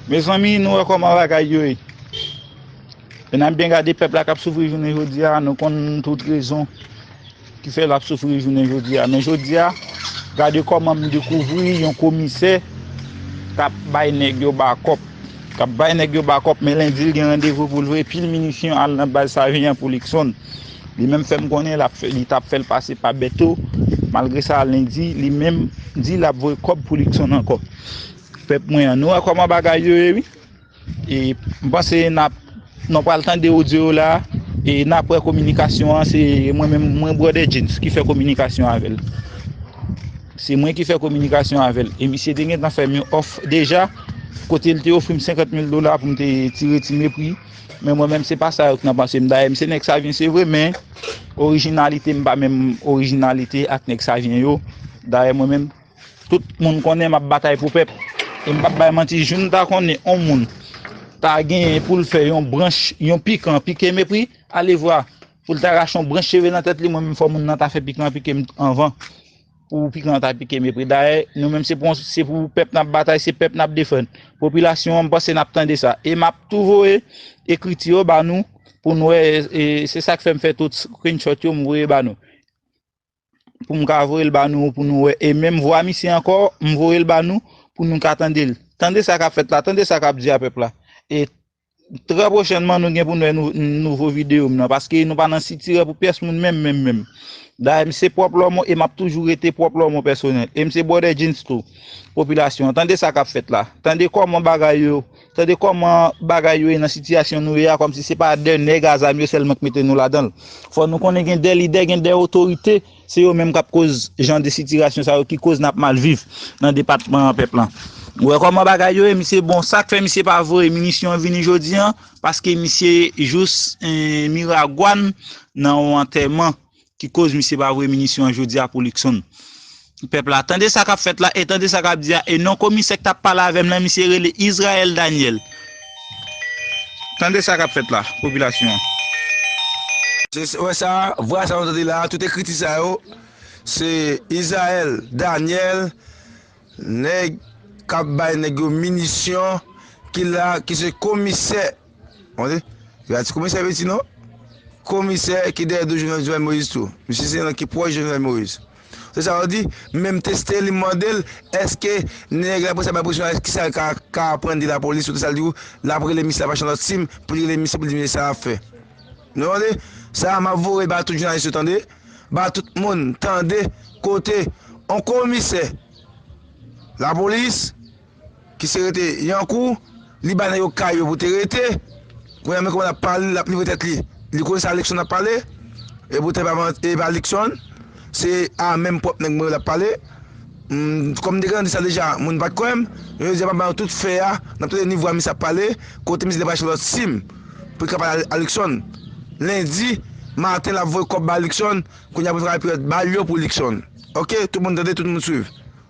Mezanmi nou wè kòman bagay yo ye e nap byen gade pèp la kap soufri jounen jodi a nou konn tout rezon ki fè lap soufri jounen jodi a men jodi a gade kòman m dekouvri yon komisè kap bay nèg yo bakòp kap bay nèg yo bakòp men lendi l gen randevou pou l voye pil minisyon al nan baz Savian pou Likson li menm fè m konnen lap fè li tap fè l pase pa Bèto malgre sa lendi li menm di lap voye kòb pou Likson ankò. Pèp mwen an nou wè kòman bagay yo ye wi e m panse nap nou pral tande odyo yo la e nap wè kominikasyon an se mwen menm mwen bròdè James ki fè kominikasyon avèl se mwen ki fè kominikasyon avèl e misye te gentan fèm yon òf deja kote l te ofri m 50 mil dola pou m te tire ti mepri men mwen menm se pa sa yo k nan panse m dayè m se nèg savyen se vre men orijinalite m pa menm orijinalite ak nèg savyen yo dayè mwen menm. Tout moun konnen map batay pou pèp e m pap bay manti jou m ta konnen on moun ta genyen pou l fè yon branch yon pikan an pike m epwi alevwa pou l ta rache yon branch cheve nan tèt li mwen menm fò moun nan ta fè pikan an pike m anvan pou pikan an ta pike m epwi dayè nou menm se pou yon se pou pèp nap batay se pèp nap defann popilasyon an m panse nap tande sa e map tou voye ekriti yo ba nou pou n wè e se sak fè m fè tout screenshot yo m voye ba nou. pou m ka voye l ba nou pou nou wè e menm vwa misye ankò m voye l ba nou pou nou ka tande l. Tande sa k ap fèt la, tande sa k ap di a pèp la e trè pwochènman nou gen pou nou wè nouvo videyo m nan paske nou pa nan sitirè pou pyès moun menm menm menm. Dayè m se pwòp lòmon e m ap toujou rete pwòp lòmon pèsonèl e m se bwòdè djins tou popilasyon an. Tande sa k ap fèt la, tande kòman bagay yo Tande kòman bagay yo ye nan sitiyasyon nou ye a kòm si se pa de nèg a zam yo sèlman ki mete nou ladan l. Fò nou konnen gen de lidè, gen de otorite, se yo menm k ap koz jan de sitirasyon sa yo ki koz n ap mal viv nan depatman an pèp lan. Ou wè kòman bagay yo ye misye bon sa k fè misye pa voye minisyon vini jodi an paske misye jous Miragwàn nan yon antèman ki koz misye pa voye minisyon an jodi a pou Luckson. Pèp la, tande sa kap fèt la e tande sa kap di a e non komisè ki tap pale avèm lan misye rele Israël Daniel. Tande sa kap fèt la, popilasyon an. Ou wè sa, vwa sa nou tande la, tout ekriti sa yo, se Israël Daniel, nèg kap bay nèg yo minisyon ki la, ki se komisè. Mande, se pa ti komisè Peti non. Komisè ki dèyè do Jovenel Jovenel Moïse tou. Misye se nan ki pwòch Jovenel Moïse. Se sa ou di, menm teste li mande l, eske nèg la pou sa bay presyon a, ki sa l ka ka aprann de lapolis ou de sa l di ou, l ap rele misye l ap achte yon lòt sim pou l rele misye pou l di misye sa l ap fè. Nou tande? Sa m ap voye ba tout jounalis yo tande, ba tout moun tande kote yon komisè lapolis Ki se rete yan kou Li ba nèg yo kay yo pou te rete Kounye a men kòman lap pale lap livre tèt li Li konn sa Luckson ap pale E poutèt e pa Luckson Se a menm pwòp nèg mwen yo lap pale Kòm m te gentan di sa deja moun pat kwè m Men jodi a map ba nou tout fè a Nap tande ni vwa misye ap pale Kote misye te pral achte lòt sim Pou li ka pale a Luckson Lendi maten lap voye kòb ba Luckson Kounye a pou li travay pou yo bay l yo pou Luckson Ok tout moun tande tout moun swiv